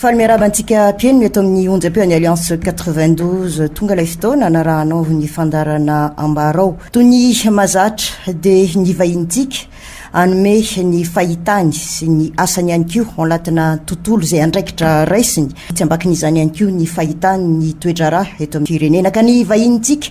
Faly miarahaba antsika mpihaino eto amin'ny onjam-peon'ny Alliance 92. Tonga ilay fotoana anarahanao ny fandaharana ambarao. Toy ny mahazatra dia ny vahinintsika hanome ny fahitany sy ny asany ihany koa ao anatina tontolo izay andraikitra raisiny. Tsy ambakin'izany ihany koa ny fahitany ny toe-draharaha eto amin'ny firenena ka ny vahinintsika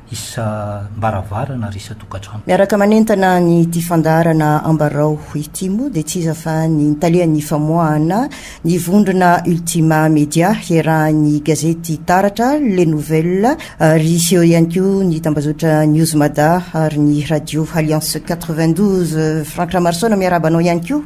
isam-baravarana ary isan-tokantrano. Miaraka manentana an'ity fandaharana Ambarao ity moa dia tsy iza fa ny talehan'ny famoahana ny vondrona Ultima Media iarahan'ny gazety Taratra, Le Nouvelle, ary eo ihany koa ny tambazotra Newsmada ary ny Radio Alliance quatre-vingt-douze. Franck Ramarosaona miarahaba anao ihany koa.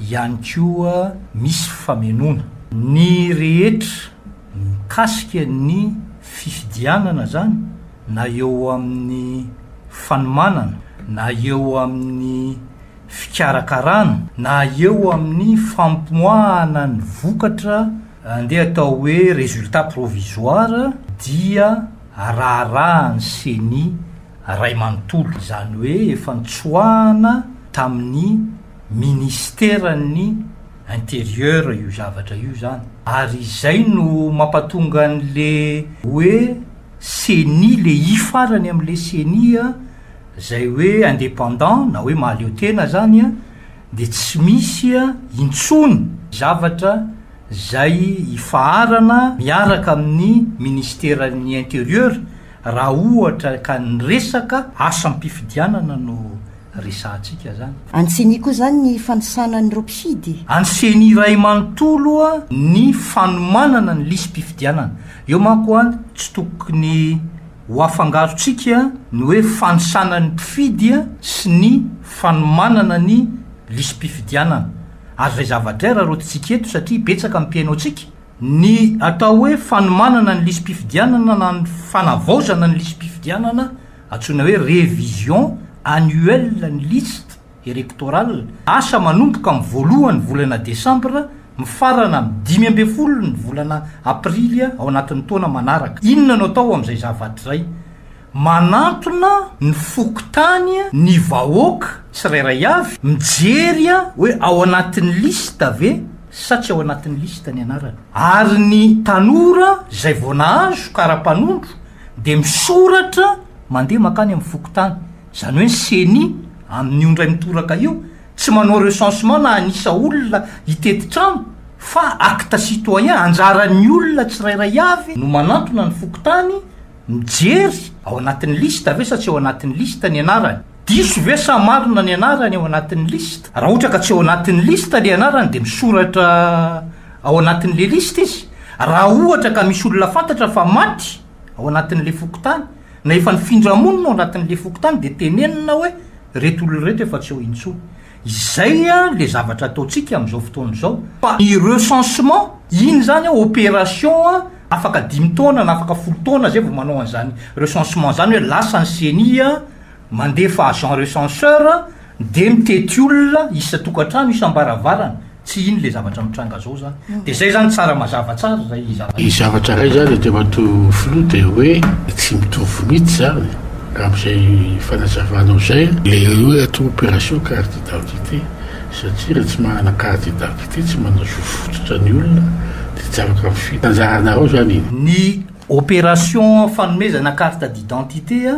ihany koa misy famenoana. Ny rehetra mikasika ny fifidianana zany na eo amin'ny fanomanana na eo amin'ny fikarakarana na eo amin'ny famoahana ny vokatra andeha atao hoe résultat provisoire dia araharahan'ny ceni ray manontolo izany hoe efa nitsoahana tamin'ny Ministeran'ny interieur io zavatra io zany ary izay no mampatonga an'le hoe ceni le i farany amle ceni zay hoe independant na hoe mahaleo tena zany a de tsy misy a intsony zavatra zay ifaharana miaraka amin'ny ministeran'ny interieur Raha ohatra ka ny resaka asam-pifidianana no resahantsika zany. Any ceni koa zany ny fanisana an'ireo mpifidy? Any ceni iray manontolo ny fanomanana ny lisi-pifidianana. Eo manko an tsy tokony ho afangarontsika ny hoe fanisana ny mpifidy sy ny fanomanana ny lisi-pifidianana. Azo raizavatera raha rotintsika eto satria betsaka ny mpihaino antsika. Ny atao hoe fanomanana ny lisi-pifidianana na ny fanavaozana ny lisi-pifidianana, antsoina hoe révision annuelle ny liste électorale, asa manomboka amin'ny voalohan'ny volana desambra mifarana amin'ny dimy ambin'ny folo ny volana aprily ao anatin'ny taona manaraka. Inona no atao amin'izay zavatra izay? Manantona ny fokontany ny vahoaka tsirairay avy mijery hoe ao anatin'ny liste ve sa tsy ao anatin'ny liste ny anarany. Ary ny tanora izay vao nahazo kara-panondro dia misoratra mandeha mankany amin'ny fokontany, izany hoe ny ceni amin'io indray mitoraka io tsy manao recensement na hanisa olona hitety trano fa acte citoyen, anjaran'ny olona tsirairay avy no manantona ny fokontany, Mijery ao anatin'ny liste ve sa tsy ao anatin'ny liste ny anarany? Diso ve sa marina ny anarany ao anatin'ny liste? Raha ohatra ka tsy ao anatin'ny liste le anarany de misoratra ao anatin'le liste izy. Raha ohatra ka misy olona fantatra fa maty ao anatin'le fokontany na efa nifindra monina ao anatin'le fokontany de tenenina hoe reto olona reto efa tsy eo intsony. Izay le zavatra ataontsika amin'izao fotoana izao fa ny recensement iny izany opération afaka dimy taona na afaka folo taona zay vao manao an'izany recensement izany hoe lasa ny ceni mandefa agent recenseur dia mitety olona isan-tokantrano, isam-baravarana. tsy iny le zavatra mitranga zao zany de zay zany tsara mazava tsara zay zavatra Ny zavatra ray zany Andriamatoa Filoha dia hoe tsy mitovy mihitsy zany amin'izay fanazavanao zay le hoe atao opération carte d'identité satria raha tsy manana carte d'identité tsy manao zo fototra ny olona dia tsy afaka mifidy. Anjaranareo zany iny. Ny opération fanomezana carte d'identité a!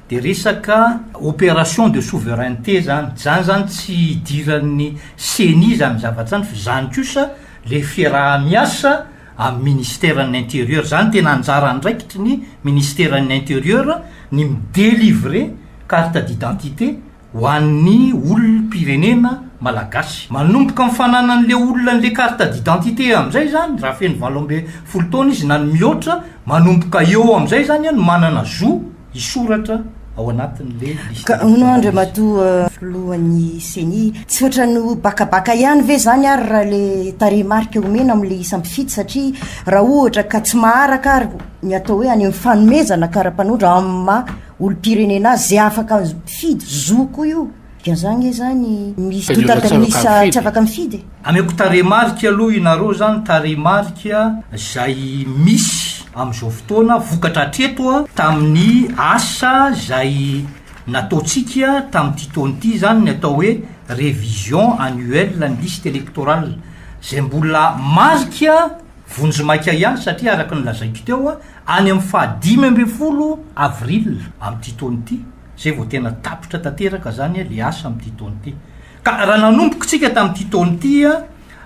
Dia resaka opération de souveraineté zany, zany zany tsy hidiran'ny ceni zany zavatra zany fa zany kosa le fiaraha-miasa amin'ny ministeran'ny interieur, zany tena anjara andraikitry ny ministeran'ny interieur ny mi-delivrer carte d'identité ho an'ny olom-pirenena malagasy. Manomboka amin'ny fananan'ilay olona an'ilay carte d'identité amin'izay izany, raha feno valo ambin'ny folo taona izy na ny mihoatra, manomboka eo amin'izay izany no manana zo hisoratra ao anatin'ilay liste électorale izy. Ka hono hono Andriamatoa Filohan'ny Ceni, tsy ohatran'ny ho bakabaka ihany ve izany ary raha ilay tarehimarika omena amin'ilay isam-pifidy satria raha ohatra ka tsy maharaka ary ny atao hoe any amin'ny fanomezana kara-panondro amin'ny maha olompirenena azy zay afaka mifidy zoko io dia za nge zany misy doute Olona tsy afaka miisa mifidy. tsy afaka mifidy e. Ameko tarehimarika aloha inareo zany tarehimarika zay misy amzao fotoana vokatra atreto tamin'ny asa zay nataontsika tamin'ity taona ity zany ny atao hoe révision annuelle ny liste électorale zay mbola marika vonjimaika ihany satria araka ny lazaiko teo Any amin'ny faha dimy ambin'ny folo avril amin'ity taona ity, izay vao tena tapitra tanteraka izany ilay asa amin'ity taona ity. Ka raha nanomboka isika tamin'ity taona ity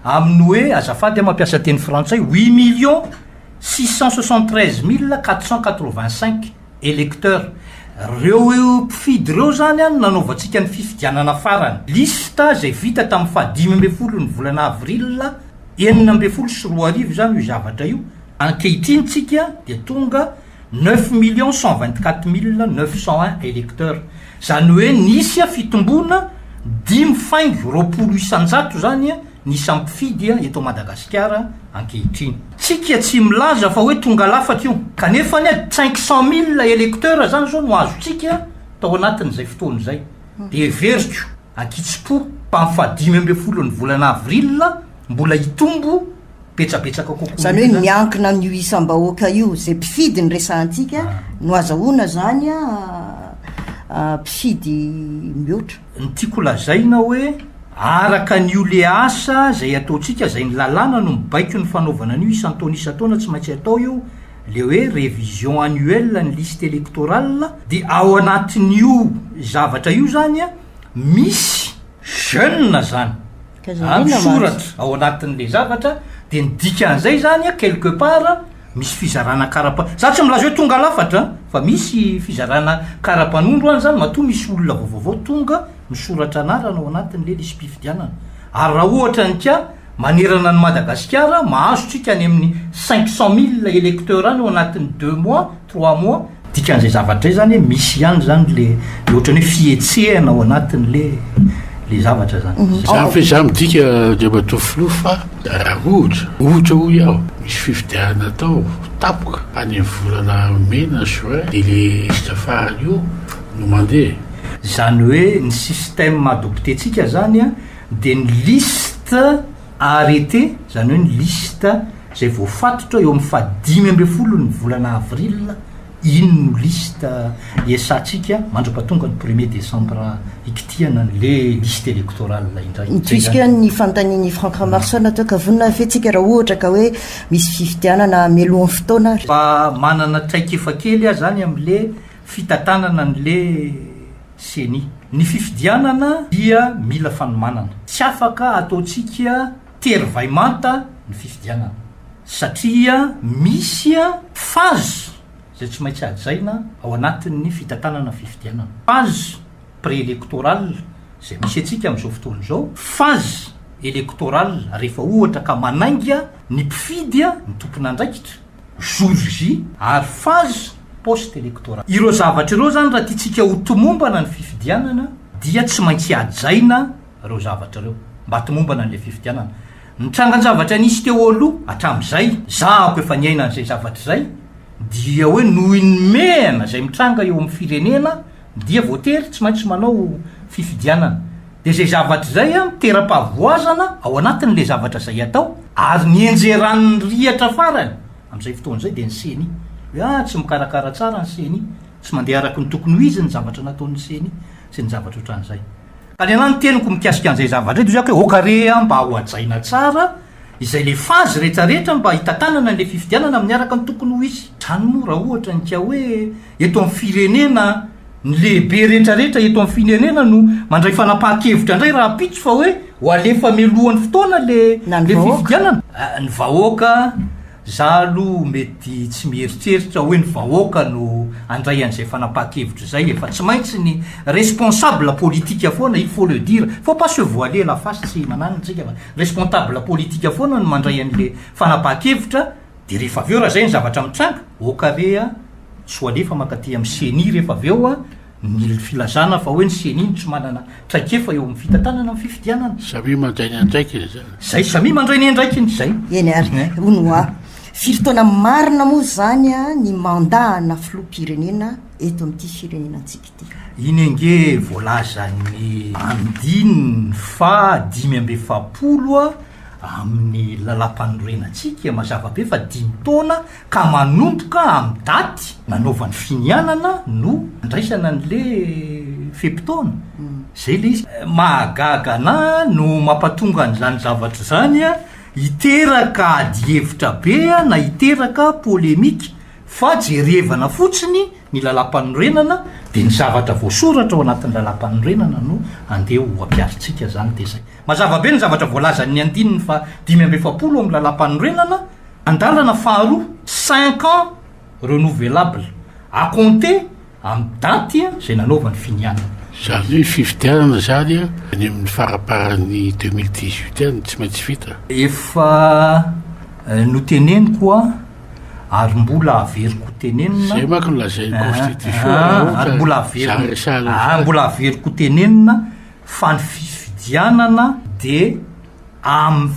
amin'ny hoe, azafady aho mampiasa teny frantsay, huit millions six cent soixante treize mille quatre cent quatre vingt cinq electeurs, ireo mpifidy ireo izany no nanaovantsika ny fifidianana farany. Liste izay vita tamin'ny faha dimy ambin'ny folo ny volana avril enina ambin'ny folo sy roa arivo izany io zavatra io, Ankehitriny tsika dia tonga neuf millions cent vingt quatre mille neuf cent un electeurs, zany hoe nisy fitomboana dimy faingo roapolo isanjato zany ny isan'ny mpifidy eto Madagasikara ankehitriny. Tsika tsy milaza fa hoe tonga lafatra io, kanefa anie cinq cent mille electeurs zany zao no azontsika tao anatin'izay fotoana izay, dia heveriko ankitsimpo fa amin'ny faha dimy ambin'ny folon'ny volana avril mbola hitombo, betsabetsaka kokoa izany hoe miankina amin'io isam-bahoaka io izay mpifidy ny resahantsika ah. no azahoana izany a ah, mpifidy mihoatra ny tiako lazaina hoe araka ny o le asa izay ataontsika izay ny lalàna no mibaiko ny fanaovana an'io isan-taona isan-taona tsy maintsy atao io le hoe révision annuelle ny liste électorale dia ao anatin'io zavatra io zany a misy jeune zany zany soratra ao anatin'le zavatra de ny dikan'izay zany a quelque part misy fizarana karapa za tsy milaza hoe tonga lafatra an fa misy fizarana karapanondro any zany matoa misy olona vaovaovao tonga misoratra anarana ao anatin'le lisi-pifidianana ary raha ohatra ny ka Manerana an'i Madagasikara, mahazo tsika any amin'ny cinq cent mille electeurs any ao anatin'ny deux mois, trois mois. Dikan'izay zavatra izay izany hoe misy ihany izany ilay ilay ohatran'ny hoe fihetsehana ao anatin'ilay ilay zavatra izany. Izany fa izaho midika Andriamatoa Filoha fa raha ohatra, ohatra hoy aho, misy fifidianana atao tampoka any amin'ny volana mai na juin dia ilay liste farany io no mandeha. Izany hoe ny système adopté-tsika izany an, dia ny liste arrêté, izany hoe ny liste izay voafatotra eo amin'ny fahadimy ambin'ny folon'ny volana avril, iny no liste iasantsika mandra-pahatonga ny premier décembre ikitihana an'le liste électorale indray. Puisque ny fanontanian'i Franck Ramaroson atao ka vonona ny fihetsika raha ohatra ka hoe misy fifidianana hamelohan'ny fotoana ary. Mba manana traikefa kely aho izany amin'le. fitantanana ny le ceni. Ny fifidianana dia mila fanomanana. Tsy afaka ataontsika tery vay manta ny fifidianana satria misy phase izay tsy maintsy hajaina ao anatin'ny fitantanana fifidianana. Phase pre-electorale izay misy antsika amin'izao fotoana izao, phase electorale rehefa ohatra ka manainga ny mpifidy ny tompon'andraikitra, jour J ary phase post electoral. Ireo zavatra ireo izany raha tiantsika ho tomombana ny fifidianana dia tsy maintsy hajaina ireo zavatra ireo mba tomombana an'ilay fifidianana. Ny trangan-javatra nisy teo aloha hatramin'izay, zahako efa niaina an'izay zavatra izay, dia hoe noho ny mehana izay mitranga eo amin'ny firenena dia voatery tsy maintsy manao fifidianana. Dia izay zavatra izay no teram-pahavoazana ao anatin'ilay zavatra izay atao, ary ny enjeran'ny rihatra farany amin'izay fotoana izay dia ny ceni. Hoe ah, tsy mikarakara tsara ny ceni, tsy mandeha araka ny tokony ho izy ny zavatra nataon'ny ceni, sy ny zavatra ohatran'izay. Ka ny anahy ny teniko mikasika an'izay zavatra izay dia hoe aoka re mba hohajaina tsara izay ilay phase rehetrarehetra mba hitantanana an'ilay fifidianana miaraka ny tokony ho izy. Izany moa raha ohatra ny ka hoe. Eto amin'ny firenena, ny lehibe rehetrarehetra eto amin'ny firenena no mandray fanapahan-kevitra indray rahampitso fa hoe ho alefa mialohan'ny fotoana ilay fifidianana. Ny vahoaka, za aloha mety tsy mieritreritra hoe ny vahoaka no handray an'izay fanapahan-kevitra izay e, fa tsy maintsy ny responsable politique foana, il faut le dire, faut pas se voiler la face, tsy mananona isika fa responsable politique foana no mandray an'ilay fanapahan-kevitra, Dia rehefa avy eo raha izay ny zavatra mitranga, ok re a, tsy ho alefa mankaty amin'ny ceni rehefa avy eo ny filazana fa hoe ny ceni no tsy manana traikefa eo amin'ny fitantanana ny fifidianana. Samia mandray ny andraikiny izany. Izay, samia mandray ny andraikiny, izay. Eny ary, hono hoa. Firy taona marina moa izany ny mandat ana filoham-pirenena eto amin'ity firenena antsika ity? Iny ange voalazan'ny andininy faha dimy amby efapolo amin'ny Lalàmpanorenantsika mazava be fa dimy taona ka manomboka amin'ny daty nanaovany finianana no andraisana an'le fe-potoana. Zay le izy. Mahagaga anahy no mampatonga an'izany zavatra izany hiteraka adihevitra be na hiteraka polemique fa jerevana fotsiny ny lalam-panorenana dia ny zavatra voasoratra ao anatin'ny lalam-panorenana no andeha ho ampiarintsika izany dia izay. Mazava be ny zavatra voalazan'ny andininy faha dimy amby efapolo ao amin'ny lalam-panorenana, andalana faharoa, cinq ans renouvelables, à compter Amin'ny daty izay nanaovany finianana. Izany hoe fifidianana izany any amin'ny faramparan'ny deux mille dix-huit any no tsy maintsy vita. Efa noteneniko an, ary mbola averiko ho tenenina. Izay manko no lazain'ny constitution raha ohatra ka zary resahana ny fara. Mbola averiko ho tenenina fa ny fifidianana dia amin'ny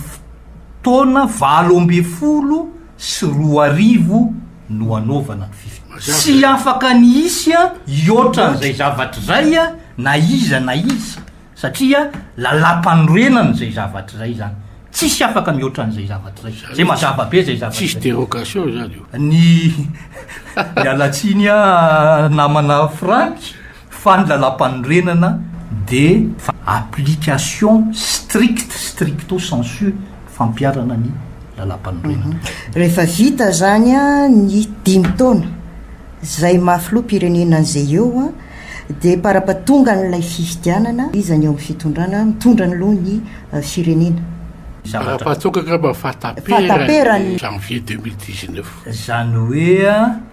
fotoana valo ambin'ny folo. sy roa arivo no anaovana ny fifidianana. Tsy afaka ny hisy hihoatran'izay zavatra izay na iza na iza satria lalàmpanorenana izay zavatra izay izany. Tsisy afaka mihoatra an'izay zavatra izay. Izay mazava be izay zavatra izay. Tsisy dérogation izany io. Ny miala tsiny aho namana Franck. fa ny lalàmpanorenana dia application stricte stricto sensu fampiharana ny lalàmpanorenana. Rehefa vita izany ny dimy taona izay maha filoham-pirenena an'izay eo dia parapatonga an'ilay fifidianana izy any eo amin'ny fitondrana mitondra ny loha ny firenena. Parapatonga angamba ny fahataperan'ny janvier deux mille dix-neuf. Izany hoe.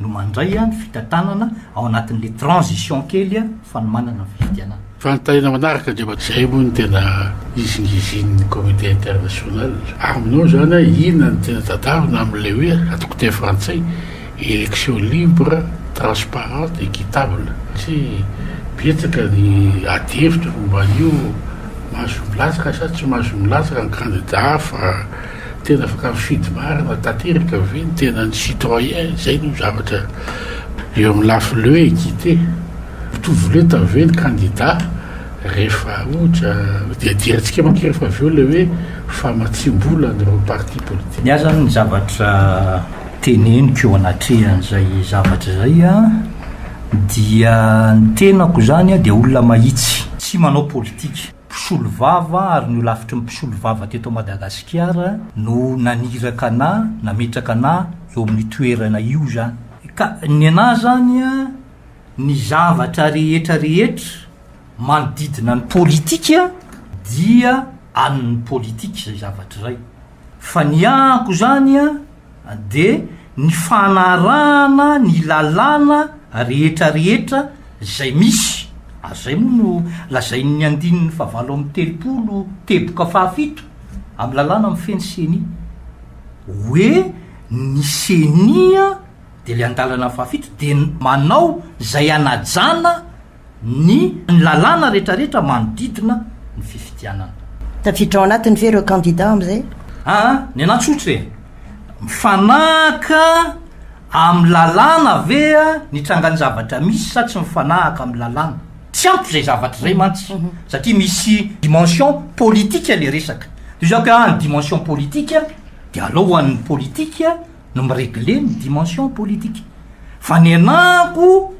no mandray ny fitantanana ao anatin'ilay transition kely fanomanana ny fifidianana. Fanontaniana manaraka dia mba izay moa no tena izingizin'ny communauté internationale. Aminao izany inona no tena tadavina amin'ilay hoe, ataoko teny frantsay, élection libre, transparente, équitable? Satria betsaka ny adihevitra momba an'io, mahazo milatsaka sa tsy mahazo milatsaka ny kandida hafa. Tena afaka mifidy marina tanteraka ve ny tenan'ny citoyen? Izay no zavatra eo amin'ny lafiny le hoe équité. Mitovy lenta ve ny kandida rehefa ohatra diadiantsika manko rehefa avy eo le hoe famatsiam-bola an'ireo parti politique. Ny ahy izany ny zavatra teneniko eo anatrehan'izay zavatra izay dia ny tenako izany dia olona mahitsy tsy manao politika. mpisolovava ary ny holafitry ny mpisolovava teto Madagasikara no naniraka anà, nametraka anà eo amin'ny toerana io izany. Ka ny anà izany an, ny zavatra rehetra rehetra manodidina ny politika dia an'ny politika izay zavatra izay. Fa ny amiko izany an. dia ny fanarahana ny lalàna rehetra rehetra izay misy, ary izay moa no lazain'ny andininy fahavalo amby telopolo teboka fahafito amin'ny lalàna mifehy ny ceni, hoe ny ceni dia ilay andalana fahafito dia manao izay hanajana, ny lalàna rehetrarehetra manodidina ny fifidianana. Tafiditra ao anatiny ve ireo kandida amin'izay? Aa, ny anà tsotra e! Mifanahaka amin'ny lalàna ve ny trangan'ny zavatra misy sa tsy mifanahaka amin'ny lalàna? Tsy ampy izay zavatra izay mantsy satria misy dimension politika ilay resaka. Toy izao ka ny dimension politika dia alao ho an'ny politika. no mi-regler ny dimension politique. Fanenako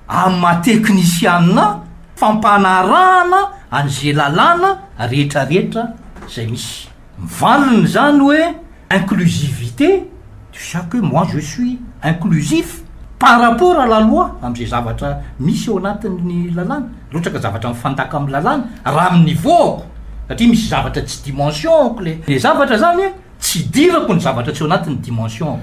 amin'ny maha teknisianina ahy fampanarahana an'izay lalàna rehetrarehetra izay misy. Mivalona izany hoe inclusivité, tu sais que moi je suis inclusif par rapport à la loi, amin'izay zavatra misy ao anatin'ny lalàna, raha ohatra ka zavatra mifandaka amin'ny lalàna, raha amin'ny niveau-ko, satria misy zavatra tsy dimension-ko ilay zavatra izany e! tsy idirako ny zavatra tsy ao anatin'ny dimension-ko.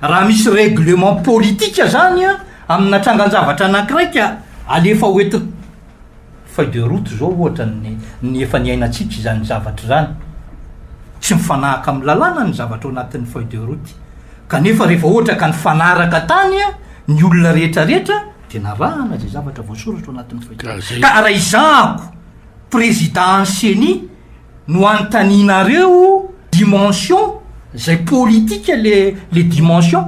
Raha misy règlement politique zany an, amina trangan-javatra anankiray ka alefa ho ety feuille de route zao ohatra ny ny efa niainantsika izany zavatra izany, tsy mifanahaka amin'ny lalàna ny zavatra ao anatin'ny feuille de route, kanefa rehefa ohatra ka nifanaraka tany an ny olona rehetra rehetra dia narahana izay zavatra voasoratra ao anatin'ny feuille de route. Ka raha izahako président an'i ceni, no anontanianareo dimension zay politika le le dimension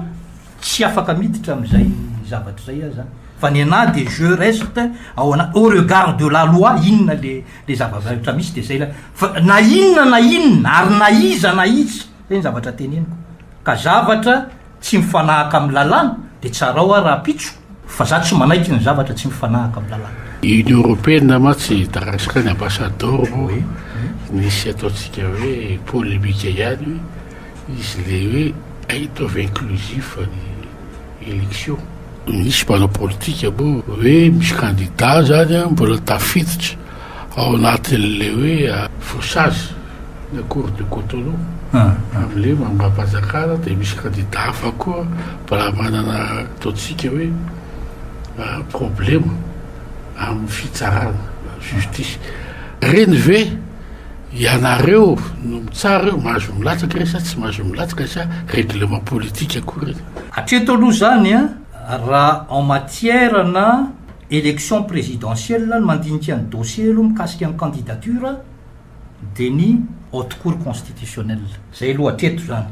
tsy afaka miditra amizay zavatra zay ah zany fa ny anah de je reste ao ana au regard de la loi inona le le zava-baeotra misy de zay la fa na inona na inona ary na iza na iza zay ny zavatra teneniko ka zavatra tsy mifanahaka amin'ny lalàna dia tsarao aho rahampitso fa za tsy manaiky ny zavatra tsy mifanahaka amin'ny lalàna. Union Européenne ma tsy hitarasaka ny ambassador vo misy ataontsika hoe polemique ihany hoe izy le hoe ataovy inclusif ny election. Misy mpanao politika moa hoe misy candidat zany mbola tafiditra ao anatin'ilay hoe fauchage ny accord de Cotonou amin'ilay mangam-panjakana dia misy kandida hafa koa mbola manana ataontsika hoe problema amin'ny fitsarana justice. Ireny ve ianareo no mitsara eo mahazo milatsaka ireny sa tsy mahazo milatsaka sa règlement politique koa ireny? Hatreto aloha izany raha en matière na Election présidentielle ny mandinika ny dossier aloha mikasika ny candidature dia ny Haute Cour constitutionnelle. Izay aloha hatreto izany.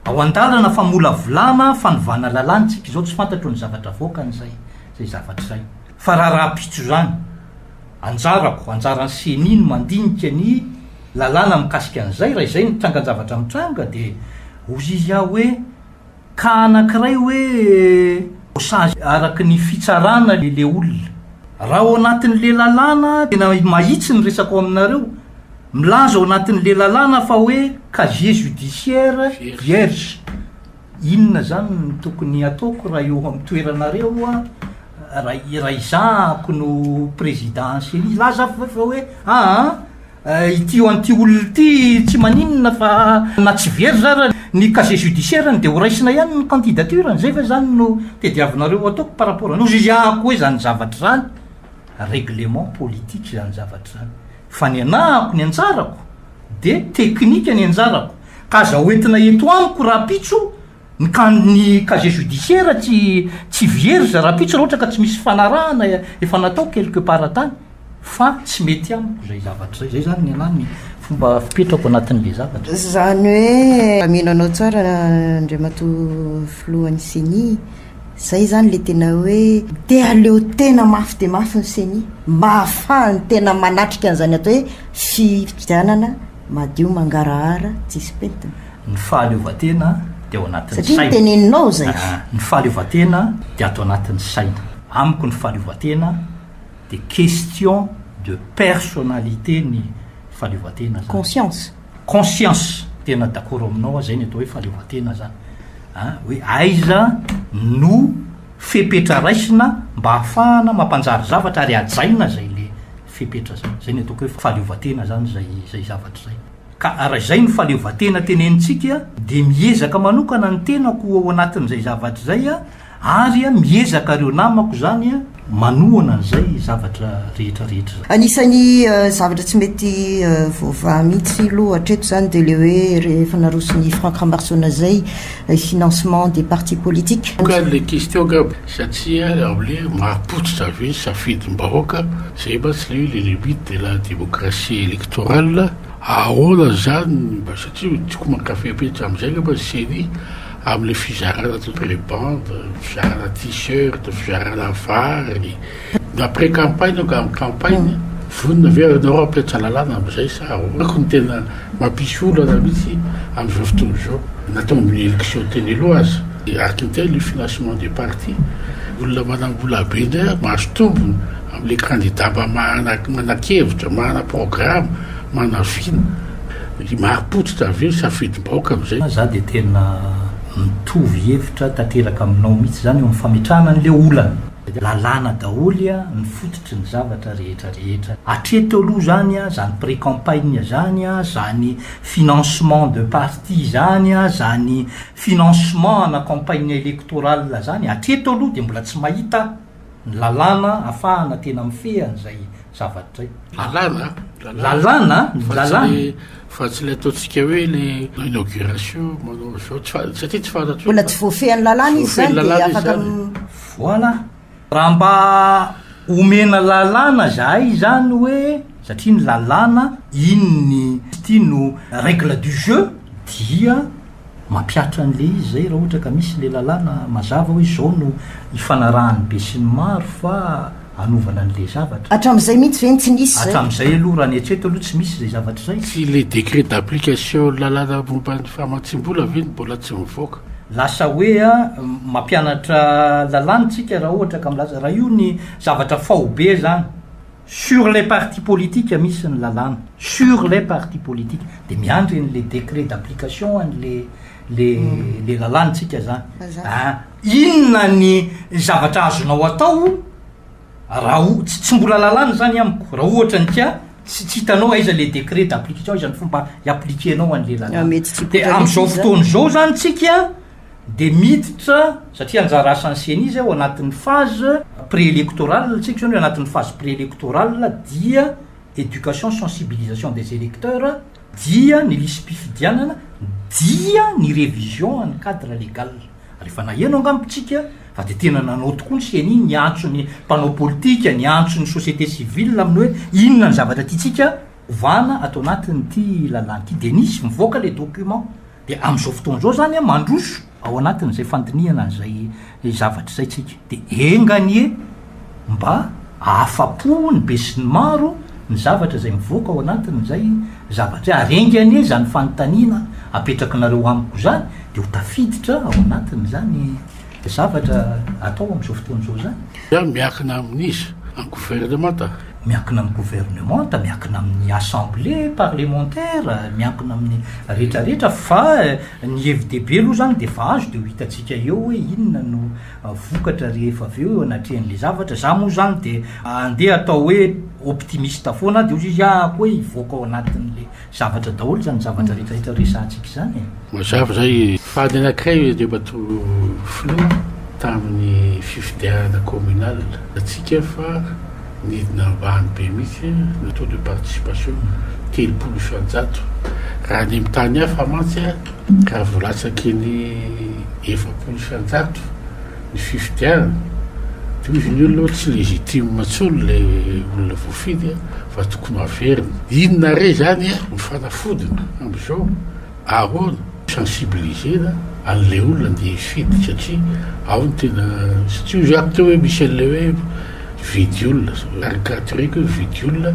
Ao an-dalana famolavolana fanovana lalàna isika izao tsy fantatro ny zavatra avoakany izay izay zavatra izay. Fa raha rahampitso izany, anjarako, anjaran'ny ceni ny mandinika ny lalàna mikasika an'izay, raha izay ny trangan-javatra mitranga dia hozizy aho hoe, Cas anakiray hoe sazy araky ny fitsarana le olona. Raha ao anatin le lalàna tena mahitsy ny resako aminareo, milaza ao anatin le lalàna fa hoe casier judiciaire vierge. Inona zany no tokony ataoko raha eo am toeranareo raha izahako no président Ceni? Laza fa hoe aa. Ity ho an'ity olona ity tsy maninona fa na tsy very zara ny casier judiciaire-ny dia ho raisina ihany ny candidature-ny, zay ve izany no tediavinareo ho ataoko par rapport an'io ziaako hoe izany zavatra izany règlement politique izany zavatra izany fa ny anahako ny anjarako dia teknika ny anjarako ka aza hoentina eto amiko rahampitso Ny kan ny casier judiciaire tsy tsy vierge rahampitso raha ohatra ka tsy misy fanarahana efa natao quelque part tany fa tsy mety amiko zay zavatra zay, zay zany ny anahy ny fomba fipetrako anatin'le zavatra. Zany hoe mino anao tsara Andriamatoa Filohan'ny Ceni, zay zany le tena hoe te aleo tena mafy dia mafy ny Ceni mba ahafahany tena manatrika an'izany atao hoe fifidianana madio mangarahara tsisy pentina. Ny fahaleovantena dia ao anatin'ny saina. Satria ny teneninao izay. Ah, ny fahaleovantena dia ato anatin'ny saina. Amiko ny fahaleovantena dia question de personnalité ny fahaleovantena zany. Conscience. Conscience. Tena d'accord aminao aho, izay ny atao hoe fahaleovantena zany. Ah, hoe aiza no fepetra raisina mba hahafahana mampanjary zavatra ary hajaina izay le fepetra izay. Izay ny ataoko hoe fahaleovantena zany izay izay zavatra izay. Ka raha izay no fahaleovantena tenenintsika dia miezaka manokana ny tenako ao anatin'izay zavatra izay ary miezaka ireo namako izany manohana an'izay zavatra rehetra rehetra izay. Anisan'ny zavatra tsy mety voavaha mihitsy aloha hatreto izany dia ilay hoe rehefa naroson'i Franck Rambarsona izay financement des partis politiques. Ka ilay question angamba Satria amle mahapotsitra ve ny safidy ny bahoaka zay mantsy le hoe le limite de la democratie electorale aona zany mba satria ny tiako mankafy be atramzay ngamba ny ceni amle fizarana pré bande fizarana tee-shirt fizarana vary Après campagne ao ka campagne, vonona ve ianao hampiantra lalàna amin'izay sa ahoana? Koa ny tena mampisy olana mihitsy amin'izao fotoana izao, na tao amin'ny élection teny aloha aza, dia arc intel io financement des partis, olona manam-bola be indray ary mahazo tombony amin'ilay candidat mba mahana manan-kevitra, mahana programme, mahana vina, dia marim-pototra avy eo, safidim-bahoaka amin'izay. Za dia tena mitovy hevitra tanteraka aminao mihitsy izany eo amin'ny fametrahana an'ilay olana. Lalàna daholo ny fototry ny zavatra rehetra rehetra. Hatreto aloha izany, izany pré-campagne izany, izany financement de parti izany, izany financement ana campagne électorale izany, hatreto aloha dia mbola tsy mahita aho ny lalàna ahafahana tena mifehy an'izay zavatra izay. Lalàna an! Lalàna an! Ny lalàna. Fa tsy ilay ataontsika hoe ilay inauguration manao izao, satria tsy fantatro hoe. Mbola tsy voafehin'ny lalàna izy izany dia afaka. Voilà! Raha mba omena lalàna zahay izany hoe, satria ny lalàna iny ny ity no règle du jeu, dia mampihatra an'ilay izy izay raha ohatra ka misy ilay lalàna mazava hoe izao no ifanarahan'ny besinimaro fa. anovana an'ilay zavatra. Hatramin'izay mihitsy ve no tsy nisy izay? Hatramin'izay aloha, raha ny eritreritro aloha, tsy misy izay zavatra izay. Tsy ilay décret d'application ny lalàna momba ny famatsiam-bola ve no mbola tsy mivoaka? Lasa hoe mampianatra lalàna isika raha ohatra ka milaza, raha io ny zavatra faobe izany, sur les partis politiques misy ny lalàna, sur les partis politiques, dia miandry an'ilay décret d'application an'ilay ilay lalàna isika izany. Mazava. Inona ny zavatra azonao atao raha o- tsy tsy mbola lalàna izany amiko, raha ohatra ny tia tsy tsy hitanao aiza le décret d'application, aiza ny fomba hi-appliquer-nao an'le Ah, lalàna. mety tsy Dia hipoitra mihitsy amin'izao izy zany. fotoana izao izany tsika dia miditra, satria anjara asan'ny ceni izay ao anatin'ny phase pré-électorale tsika izao, ny anatin'ny phase pré-électorale dia éducation sensibilisation des électeurs, dia ny lisi-pifidianana, dia ny révision an'ny cadre légal. Rehefa naheno angaha ny mpitsika fa dia tena nanao tokoa ny ceni niantso ny mpanao politika, niantso ny société civile amin'ny hoe inona ny zavatra tiantsika ovana ato anatin'ity lalàna ity dia nisy mivoaka ilay document. Dia amin'izao fotoana izao izany mandroso ao anatin'izay fandinihana an'izay zavatra izay isika. Dia enga anie Mba ahafapo ny besinimaro ny zavatra izay mivoaka ao anatin'izay zavatra izay, ary enga anie izany fanontaniana apetrakinareo amiko izany dia ho tafiditra ao anatin'izany zavatra atao amin'izao fotoana izao izany. Dia miankina amin'iza? Amin'ny governemanta? Miankina amin'ny governemanta, miankina amin'ny assemblée parlementaire, miankina amin'ny rehetrarehetra fa ny hevi-dehibe aloha izany dia efa azo dia ho hitantsika eo hoe inona no vokatra rehefa avy eo eo anatrehan'le zavatra, za moa zany de andeha atao hoe optimiste foana de ozy izy ah koa hivoaka ao anatin'le zavatra daholo zany zavatra retraretra resahantsika zany e. Mazava zay e. Fady anakiray io Andriamatoa Filoha tamin'ny fifidianana communal, atsika fa. Nidina ambany be mihitsy ny taux de participation, telopolo isan-jato. Raha any amin'ny tany hafa mantsy raha vao latsaky ny efapolo isan-jato ny fifidianana dia hoy izy ny olona hoe tsy légitime intsony ilay olona voafidy fa tokony ho averina. Inona re izany no fanafodiny amin'izao? Ahoana no sensibiliser-na an'ilay olona andeha hifidy satria ao ny tena tsy tiako zay ato hoe misy an'ilay hoe hividy olona zao caricatureko hoe hividy olona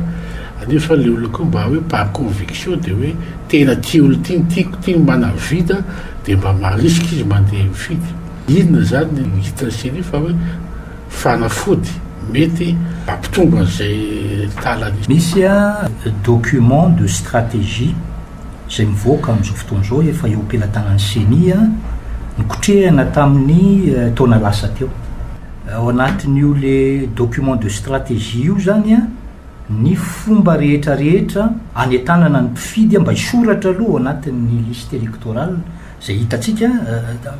nefa ilay olona koa mba hoe par conviction dia hoe tena tia olona ity ny tiako ity ny manavida dia mba marisika izy mandeha mifidy. Inona izany no hitan'i Céline fa hoe fanafody mety hampitombo an'izay tala nisy? Misy document de stratégie izay mivoaka amin'izao fotoana izao efa eo am-pelatanan'ny Ceni, nokotrehina tamin'ny taona lasa teo. Ao anatin'io le document de stratégie io izany ny fomba rehetra rehetra anentanana ny mpifidy mba hisoratra aloha ao anatin'ny liste électorale izay hitantsika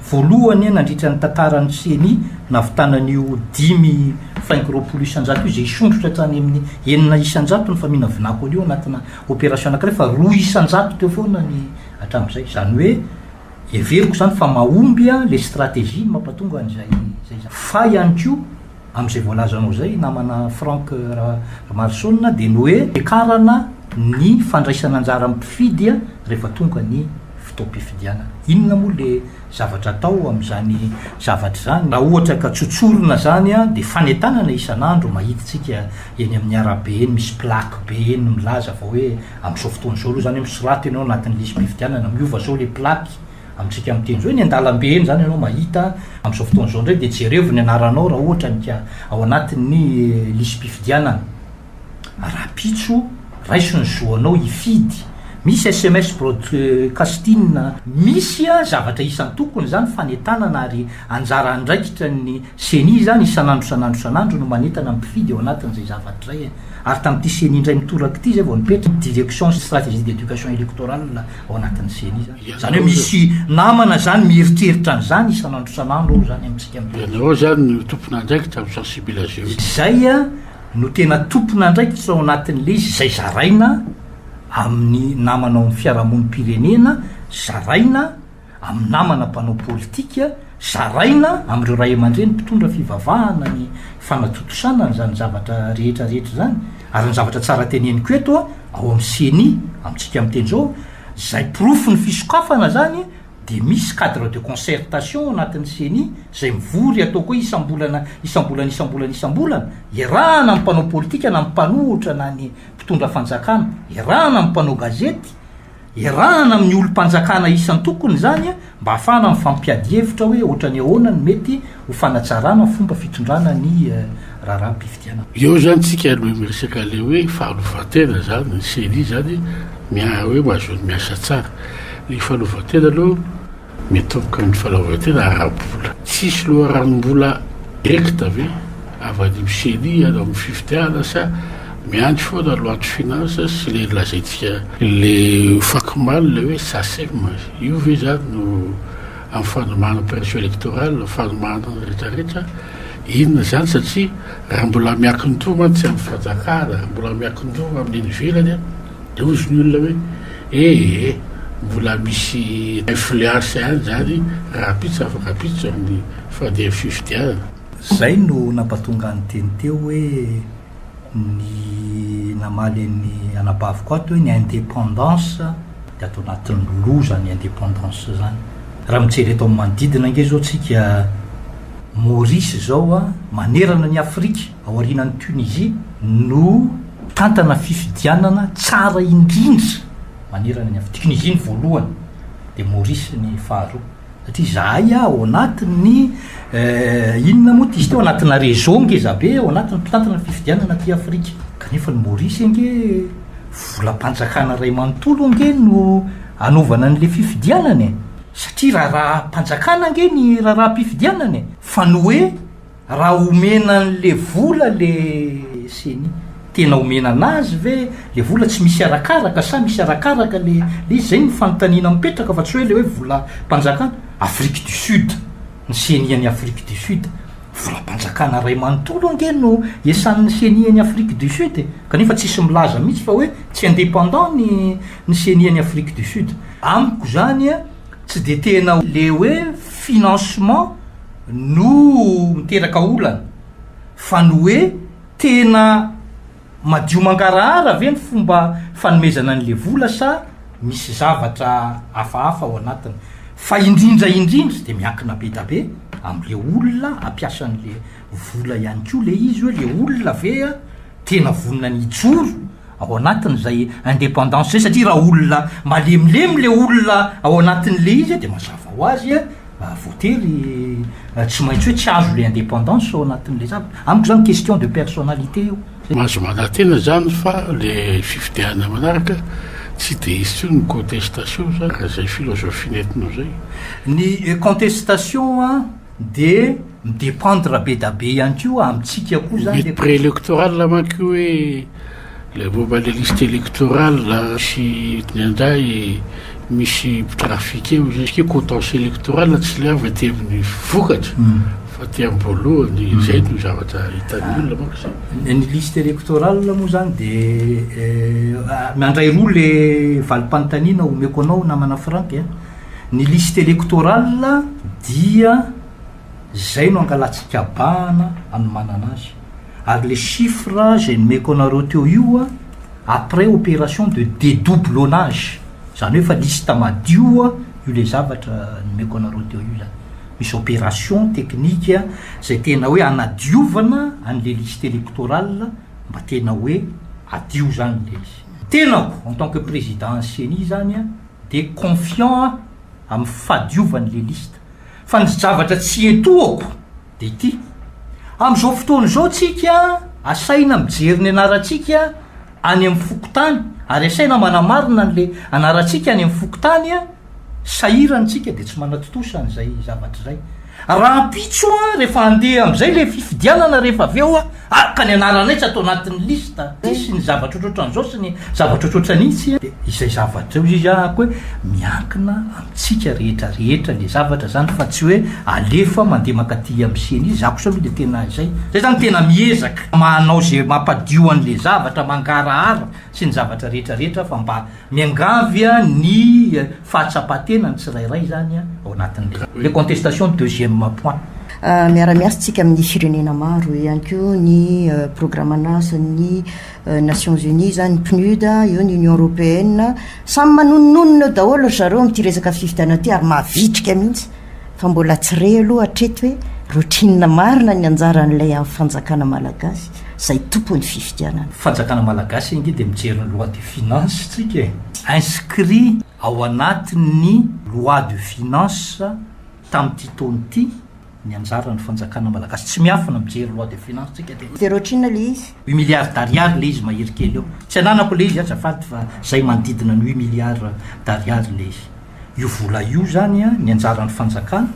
voalohany nandritra ny tantaran'ny Ceni navitana an'io dimy faingo roapolo isan-jato io izay hisondrotra hatrany amin'ny enina isan-jato ny faminavinako an'io anatina Opération anankiray fa roa isan-jato teo foana ny hatramin'izay. Izany hoe heveriko izany fa mahomby ilay stratégie ny mampatonga an'izay izay izany. Fa ihany koa amin'izay voalazanao izay namana Franck Ramarosaonina dia ny hoe fiakarana ny fandraisan'anjaran'ny mpifidy rehefa tonga ny fotoam-pifidianana. Inona moa ilay zavatra atao amin'izany zavatra izany. Raha ohatra ka tsotsorina izany dia fanentanana isan'andro mahitintsika eny amin'ny arabe eny misy plaque be eny milaza fa hoe amin'izao fotoana izao aloha izany hoe misoraty ianao anatin'ny lisi-pifidianana miova izao ilay plaque amintsika miteny izao eny an-dalambe eny izany ianao mahita amin'izao fotoana izao indray dia jerevo ny anaranao raha ohatra ka ao anatin'ny lisi-pifidianana. Rahampitso, raiso ny zo anao hifidy. Misy sms broadcasting. Misy zavatra isan-tokony izany fanentanana ary anjara andraikitra ny ceni izany isan'andro isan'andro isan'andro no manentana ny mpifidy eo anatin'izay zavatra izay ary tamin'ity ceni indray mitoraka ity izay vao nipetraka direction sy stratégie d'éducation électorale ao anatin'ny ceni izany. Izany hoe misy namana izany mieritreritra an'izany isan'andro isan'andro ao izany amintsika mpifidy. Ianareo izany no tompon'andraikitra mi-sensibiliser. Izay. no tena tompon'andraikitra ao anatin'ilay izy izay zaraina amin'ny namana ao amin'ny fiarahamonim-pirenena, zaraina amin'ny namana mpanao politika, zaraina amin'ireo ray aman-dreny mpitondra fivavahana ny fanatontosana an'izany zavatra rehetra rehetra izany. Ary ny zavatra tsara teneniko eto ao amin'ny ceni amintsika miteny izao izay porofon'ny fisokafana izany dia misy cadre de concertation ao anatin'ny ceni izay mivory ataoko hoe isam-bolana isam-bolana isam-bolana isam-bolana, iarahana amin'ny mpanao politika na ny mpanohitra na ny mpitondra fanjakana, iarahana amin'ny mpanao gazety, iarahana amin'ny olom-panjakana isan-tokony izany mba hahafahana mifampiady hevitra hoe ohatran'ny ahoana no mety ho fanatsarana fomba fitondrana ny raharaham-pifidianana. Eo izany tsika no miresaka ilay hoe fahalovan-tena izany, ny ceni izany miahy hoe mahazoany miasa tsara. Ny fahalovan-tena aloha mitomboka amin'ny fahalaovan-tena ara-bola. Tsisy loharanom-bola directe ve avy any amin'ny ceni hiala amin'ny fifidianana sa miandry foana loi de finance sy ilay lazaintsika ilay faky maly ilay hoe sacem io ve izany no amin'ny fanomana pression electorale na fanomana ny retraretra inona izany satria raha mbola miankin-doha mantsy amin'ny fanjakana raha mbola miankin-doha amin'ny ivelany dia hozy ny olona hoe ee mbola misy influence ihany izany rahampitso afaka-pitso amin'ny fandehan'ny fifidianana. Izay no nampatonga ny teny teo hoe. Ny namaly an'i anabaviko ato hoe ny indépendance dia ato anatin'ny loza ny indépendance zany. Raha mijery eto amin'ny manodidina ange zao tsika Maurice zao a, manerana an'i Afrique aorianan'i Tunisie no mitantana fifidianana tsara indrindra manerana ny Afrique. Tunisie ny voalohany dia Maurice ny faharoa. Satria izahay ao anatin'ny eh, inona moa tisy teo anatina réseau ngezabe ao anatin'ny mpitantana ny fifidianana aty Afrika. Kanefa ny Maurice ange volam-panjakana iray manontolo ange no anaovana an'le fifidianana e. Satria raharaham-panjakana ange ny raharaham-pifidianana e. Fa ny hoe Raha omena anle vola le ceni, tena omena anazy ve le vola? Tsy misy arakaraka sa misy arakaraka le le izy? Zay no fanontaniana mipetraka fa tsy hoe le hoe volam-panjakana Afrique du Sud, ny ceni any Afrique du Sud. Volam-panjakana ray manontolo ange no esan'ny ceni any Afrique du Sud e! Kanefa tsisy milaza mihitsy fa hoe tsy indépendant ny ny ceni any Afrique du Sud. Amiko zany tsy de tena le hoe financement. no miteraka olana fa ny hoe tena madio mangarahara ve ny fomba fanomezana an'le vola sa misy zavatra hafahafa ao anatiny fa indrindra indrindra de miankina be da be amle olona hampiasa an'le vola ihany koa le izy hoe le olona ve tena vonona ny hijoro ao anatiny izay indépendance izay satria raha olona malemilemy le olona ao anatiny le izy de mazava ho azy a voatery tsy maintsy hoe tsy azo le indépendance ao anatiny le zavatra amiko zany question de personnalité io Mahazo manantena izany fa le fifidianana manaraka tsy de hisy tsony ny contestation zany raha izay philosophie nentinao izay. Ny contestation a. De mi-dependre be da be ihany koa amintsika koa zany le. Ny pre-electoral manko io hoe le momba le liste electoral sy ny andahy misy mpitrafika eo izy satria contentieux electoral tsy le avy aty amin'ny vokatra fa aty am-boalohany, zay no zavatra hitan'ny olona manko zay. Ny liste electoral moa zany de mandray roa le valim-panontaniana omeko anao namana Franck a. Ny liste électorale dia zay no angalatsikabahana anomanana azy ary le chiffre zay nomeko anareo teo io a après opération de dédoublonnage zany hoe fa liste madio a io le zavatra nomeko anareo teo io zany misy opération technique zay tena hoe anadiovana an'le liste électorale mba tena hoe adio zany le izy tenako en tant que président an'ny ceni zany a dia confiant aho amin'ny fahadiovan'i Lelista. Fa ny zavatra tsy etoako dia ity, amin'izao fotoana izao tsika asaina mijery ny anarantsika any amin'ny fokontany ary asaina manamarina an'ilay anarantsika any amin'ny fokontany, sahirana isika dia tsy manatontosa an'izay zavatra izay. Rahampitso aho rehefa handeha amin'izay ilay fifidianana rehefa avy eo aho. Araka ny anaranay tsy atao anatin'ny liste ity sy ny zavatra ohatrohatran'izao sy ny zavatra ohatrohatra ny itsy dia izay zavatra eo izy a ko hoe miankina amintsika rehetra rehetra le zavatra izany fa tsy hoe alefa mandeha mankaty amin'ny ceni izy za kosa aloha dia tena izay zay zany tena miezaka manao izay mampadio an'le zavatra mangarahara sy ny zavatra rehetra rehetra fa mba Miangavy ny fahatsapan-tena ny tsirairay izany ao anatin'ilay contestation deuxième point. Miara-miasa isika amin'ny firenena maro, eo ihany koa ny programan'asan'ny Nations Unies izany, PNUD, eo ny Union Européenne, samy manononona eo daholo ry zareo amin'ity resaka fifidianana ity ary mavitrika mihitsy fa mbola tsy re aloha hatreto hoe routine marina ny anjaran'ilay fanjakana malagasy. zay tompon'ny fifidianana. Fanjakana malagasy ange dia mijery ny loi de finance tsika e! Inscrit ao anatin'ny loi de finance tamin'ity taona ity ny anjaran'ny fanjakana malagasy. Tsy miafina mijery loi de finance tsika dia. Very ohatrinona le izy? Huit milliards d'ariary le izy mahery kely eo. Tsy ananako le izy azafady fa zay manodidina ny huit milliards d'ariary le izy. Io vola io izany an, ny anjaran'ny fanjakana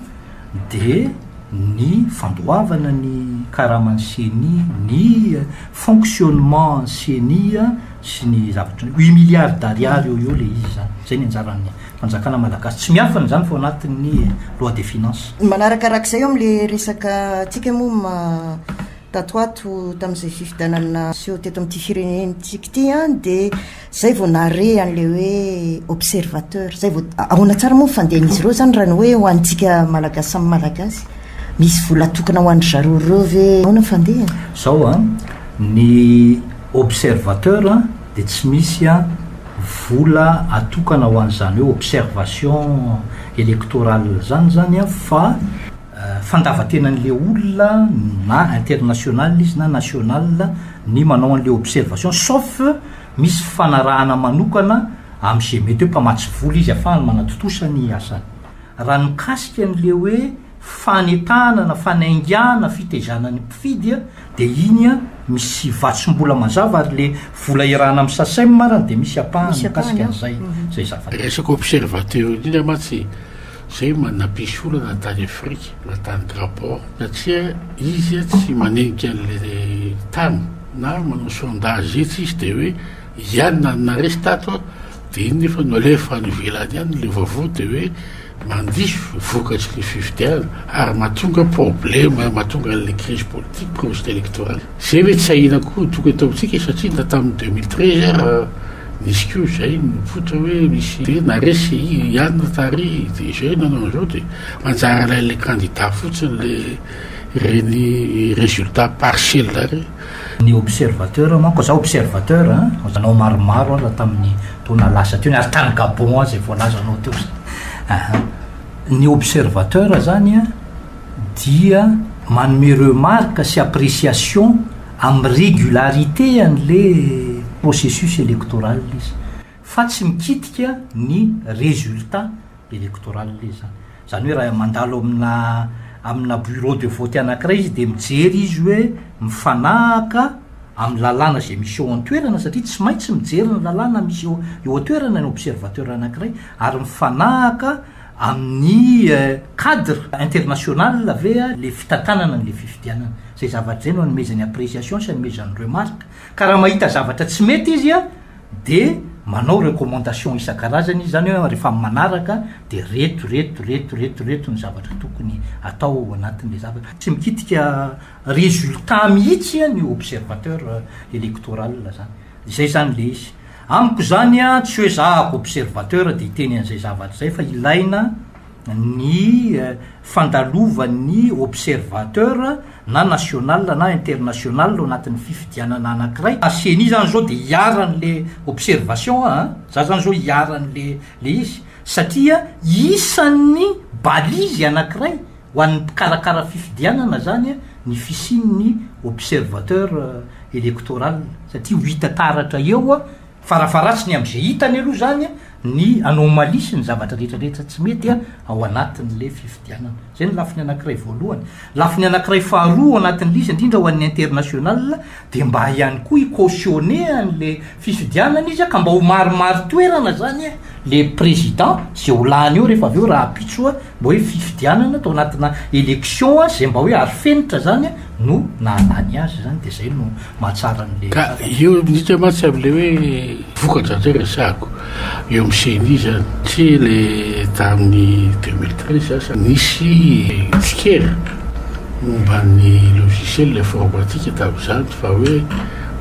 dia ny fandoavana ny karaman'ny ceni, ny fonctionnement an'ny ceni sy ny zavatra, huit milliards d'ariary eo ho eo ilay izy izany. Izay ny anjaran'ny fanjakana malagasy. Tsy miafina izany fa ao anatin'ny loi des finances. Manarakarak'izay eo amin'ilay resaka antsika moa ma, tato ho ato tamin'izay fifidianana niseho teto amin'ity firenentsika ity an, dia. Zay vao nahare an'ilay hoe observateur, zay vao, ahoana tsara moa ny fandehan'izy ireo zany raha ny hoe ho antsika Malagasy samy Malagasy? Misy vola tokana ho an-dry zareo ireo ve? Ahoana ny fandehany? Zao an, ny observateur dia tsy misy an vola atokana ho an'izany hoe observation electorale izany zany an, fa fandavantenan'ilay olona na international izy na national ny manao an'ilay observation sauf Misy fifanarahana manokana amin'ny izay mety hoe mpamatsy vola izy afahany manatontosa ny asany. Raha ny mikasika an'ilay hoe fanetahana na fanaingiahana fitaizana ny mpifidy dia iny misy vatsom-bola mazava ary ilay vola iarahana amin'ny Sacem ary dia misy ampahany mikasika an'izay izay zavatra. Resaka observateur indrindra mantsy. Zay ma napisy olana tany afrika na tany grabor satria izy a tsy manenika anle tany na manao sondage etsy izy de hoe iany na naresy tato a de iny nefa no alefa any ivelany any le vaovao de hoe mandiso vokatry le fifidianana ary matonga probleme matonga anle crise politique crise electorale. Zay ve tsy ahiana koa toko ataontsika satria na tamin'ny deux mille treize ara nisy koa izay nipoitra hoe misy dia naresy i Anne tary dia izay nanao an'izao dia manjary alain'ilay kandida fotsiny le ireny résultat partiel ireny. Ny observateur manko, za observateur a, nanao maromaro aza tamin'ny taona lasa teo, ary tany Gabon izay voalazanao teo izay, aha. Ny observateur zany a, dia manome remarque sy appréciation amin'ny régularité an'le processus électoral izy fa tsy mikitika ny résultat électoral izany. Izany hoe raha mandalo amina amina bureau de vote anankiray izy dia mijery izy hoe mifanahaka amin'ny lalàna izay misy eo an-toerana satria tsy maintsy mijery ny lalàna misy eo eo an-toerana ny observateur anankiray ary mifanahaka Amin'ny cadre international ve le fitantanana an'le fifidianana? Zay zavatra zay no anomezany appréciation sy anomezany remarque. Ka raha mahita zavatra tsy mety izy a, de manao recommandation isan-karazany izy, zany hoe rehefa manaraka de reto reto reto reto reto ny zavatra tokony atao ao anatin'le zavatra. Tsy mikitika résultat mihitsy ny observateur électoral zany. Zay zany le izy. Amiko zany a, tsy hoe za ako observateur de hiteny an'izay zavatra izay fa ilaina ny fandalovan'ny observateur na national na international ao anatin'ny fifidianana anakiray, ary ceni zany zao de iharan'le observation a, za zany zao iharan'le le izy satria isan'ny balise anakiray, Ho an'ny mpikarakara fifidianana zany ny fisian'ny observateur electoral satria ho hita taratra eo farafaharatsiny am'ze hitany aloha zany ny anomalie sy ny zavatra retraretra tsy mety ao anatin'le fifidianana. Zay ny lafiny anakiray voalohany. Lafiny anakiray faharoa ao anatin'le izy indrindra ho an'ny international de mba ihany koa hi-cautionner an'le fifidianana izy ka mba ho maromaro toerana zany e le président ze ho lany eo rehefa avy eo rahampitso a mba hoe fifidianana tao anatina élection a ze mba hoe aro fenitra zany a no nahalany azy zany de zay no mahatsara an'le ka eo midika mantsy am'le hoe Vokatra ndray resahako eo amin'ny ceni izany, tsy le tamin'ny deux mille treize aza nisy tsikera momba ny logiciel informatique tamin'izany fa hoe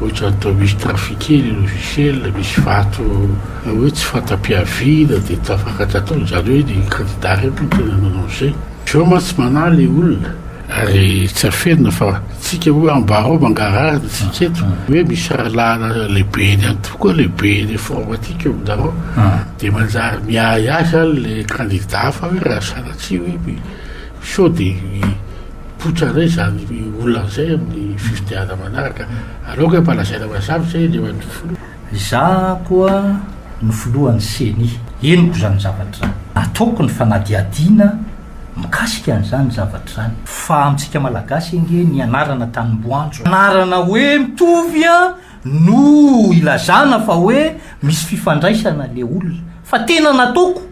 ohatran'ny toa misy trafiquer le logiciel, misy vato hoe tsy fanta-piaviana dia tafakatra tao, izany hoe ny candidat iray moa no tena nanao an'izay. Zao mantsy manahy le olona. Ary tsy afenina fa tsika hoe ambara ao mangarahara ny tsika eto hoe misy rahalahy lehibe eny any tokoa lehibe eny front aty keo aminareo dia manjary miahiahy izany le kandida hafa hoe raha sanatria hoe sao dia hipoitra indray izany olona izay amin'ny fifidianana manaraka aleoko hoe mba lazaina mazava izay eny eo an'ny filoha. Izaho koa no filohan'ny ceni henoko izany zavatra izany. Ataoko ny fanadihadiana mikasika an'izany zavatra izany. Fa amintsika malagasy ange ny anarana tanimboanjo anarana hoe mitovy an no ilazana fa hoe misy fifandraisana le olona fa tena nataoko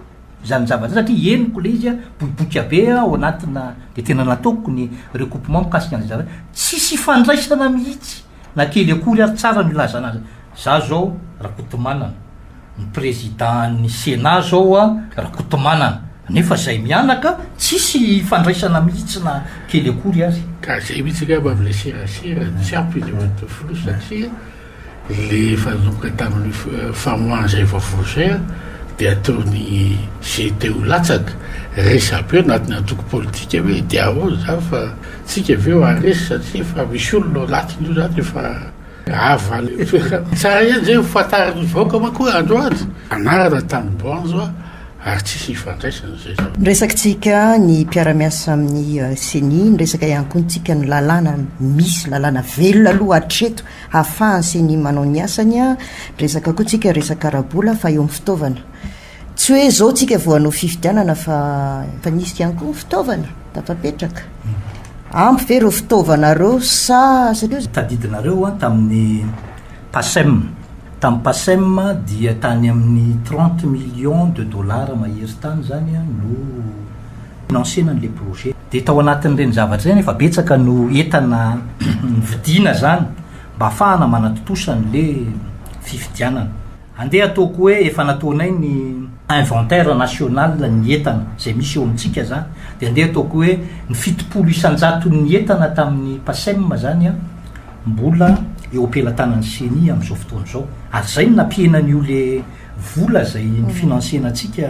izany zavatra izany satria henoko le izy an boiboika be an ao anatina de tena nataoko ny recoupement mikasika an'izay zavatra tsisy ifandraisana mihitsy Na kely akory ary tsara no ilazana azy. Za zao Rakotomanana, ny président ny Sénat zao a Rakotomanana, nefa zay mianaka tsisy ifandraisana mihitsy na kely akory ary. Ka zay mihitsy angamba avy le serasera tsy ampy ny evan'to filoha satria le fanomboka tamin'ny famoahana zay vaovao zay a de ataony ze te ho latsaka, resabe anatin'ny antoko politika hoe diaho ao za fa Tsika avy eo aresy satria efa misy olona ao anatiny io zany efa ava any toerana. Tsara ihany zay ho fantarin'ny vahoaka manko hoe androany anarana tany banjo a ary tsisy ifandraisana zay zao. Niresakintsika ny mpiara-miasa amin'ny Ceni, niresaka ihany koa ntsika ny lalàna misy, lalàna velona aloha hatreto hahafahan'ny Ceni manao ny asany a, niresaka koa tsika resaka ara-bola fa eo amin'ny fitaovana. Tsy hoe izao tsika vao hanao fifidianana fa efa nisy ihany koa ny fitaovana tafapetraka. Ampy ve ireo fitaovana ireo sa satria. Tadidinareo an tamin'ny PACEM. Tamin'ny PACEM dia tany amin'ny trente millions de dollars mahery tany izany no finansiana an'ilay projet. Dia tao anatin'ireny zavatra ireny efa betsaka no entana novidiana izany mba hahafahana manatontosa an'ilay fifidianana. Andeha ataoko hoe efa nataonay ny inventaire national ny entana izay misy eo amintsika zany dia andeha ataoko hoe ny fitopolo isan-jaton'ny entana tamin'ny PACEM zany an, mbola eo am-pelatanan'ny ceni amin'izao fotoana izao. Ary izay no nampiena an'io le vola izay nifinansiena antsika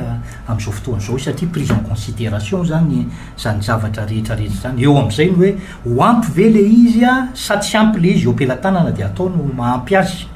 amin'izao fotoana izao satria prise en consideration zany izany zavatra rehetra rehetra izany. Eo amin'izay ny hoe ho ampy ve le izy sa tsy ampy le izy eo am-pelatanana dia atao no maha ampy azy.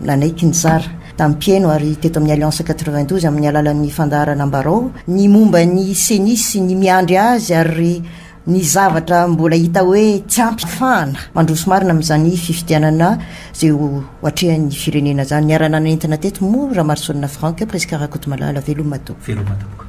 Nanaiky nizara tamin'ny mpihaino ary teto amin'ny Alliance quatre-vingt-douze amin'ny alalan'ny fandaharana Ambarao ny momba ny ceni sy ny miandry azy ary ny zavatra mbola hita hoe tsy ampy hafahana mandroso marina amin'izany fifidianana izay ho atrehan'ny firenena izany. Niara-nanentana teto moa Ramarosoanina Franck, Prisca Rakotomalala. Veloma tompo. Veloma tompoko.